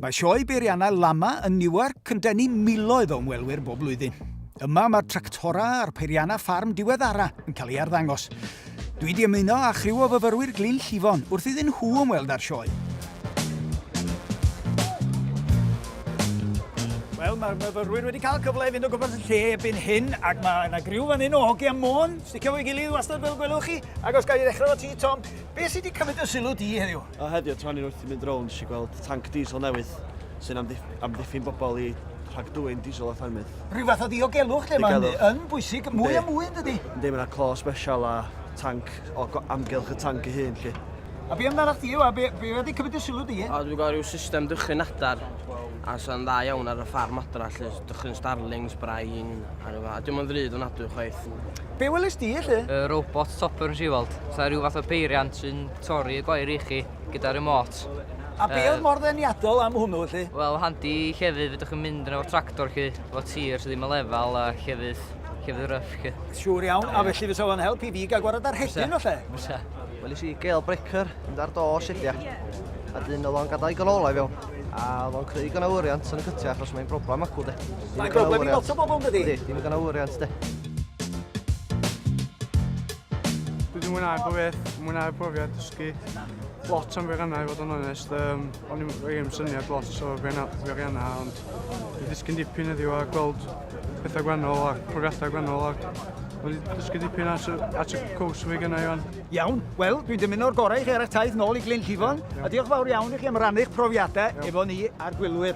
Mae sioe beiriannau Lama yn Newark yn denu miloedd o ymwelwyr bob blwyddyn. Yma mae'r tractora a'r peiriannau ffarm diweddara yn cael ei arddangos. Dwi wedi ymuno â chriw o fyfyrwyr Glyn Llifon wrth iddyn nhw ymweld â'r sioe. Wel, mae'r myfyrwyr wedi cael cyfle i fynd o gwmpas y lle erbyn hyn, ac mae yna griw fan hyn o hogi am môn, sticio fo'i gilydd wastad fel gwelwch chi, ac os gael ei ddechrau o ti, Tom, Be sy 'di cymryd dy sylw di heddiw? O, heddiw, tra o'n i'n wrth i mynd rownd, nes i gweld tanc diesel newydd sy'n amddiff- amddiffyn bobl i rhag dwyn diesel a ffermydd. Rhyw fath o ddiogelwch lle mae'n Diogelwch. yn bwysig, mwy a Yndi. mwy yn dydi? Yndi, mae yna clo sbesial a tanc o go- amgylch y tanc ei hun, lly. A be amdana chdi yw, a be, be wedi cymryd dy sylw di? A dwi'n gweld rhyw system dychryn adar a sy'n dda iawn ar y ffarm adra lly, dychryn starlings, brain a rhyw fath. A dio'm yn ddrud ofnadwy chwaith. Be welys di, elly? Y robot topper nes i weld. Sa rhyw fath o beiriant sy'n torri y gwair i chi gyda remote. A be oedd mor ddeniadol am hwnnw, elly? Wel, handi i llefydd, fydwch chi'n mynd yn efo tractor chi, efo tir sydd ddim yn lefel a llefydd, llefydd ryff chi. Siwr iawn, a felly fysa fo'n help i fi gael gwared ar hedyn, olle? Fysa. Wel, nes i gael breaker, mynd ar do sediau. A dyn oedd o'n gadael i ganolau fewn. A oedd o'n creu gynawriant yn y cytiau achos mae'n broblem acw, de. Mae'n broblem i lot o bobl, dydy? Ydy, dim digon o wriant, de. Dwi wedi mwynhau pob beth, mwynhau profiad dysgu lot am feriannau i fod yn onest. Um, o'n i'n rhaid syniad lot o feriannau, ond dwi'n dysgu'n dipyn heddiw a gweld pethau gwennol a profiadau gwennol ac wedi dysgu dipyn at, at y cwrs fi gynnau Iwan. Iawn, wel, dwi'n dymuno'r gorau i chi ar eich taith nôl i Glyn Llifon, a diolch fawr iawn i chi am rannu'ch profiadau efo ni a'r gwylwyr.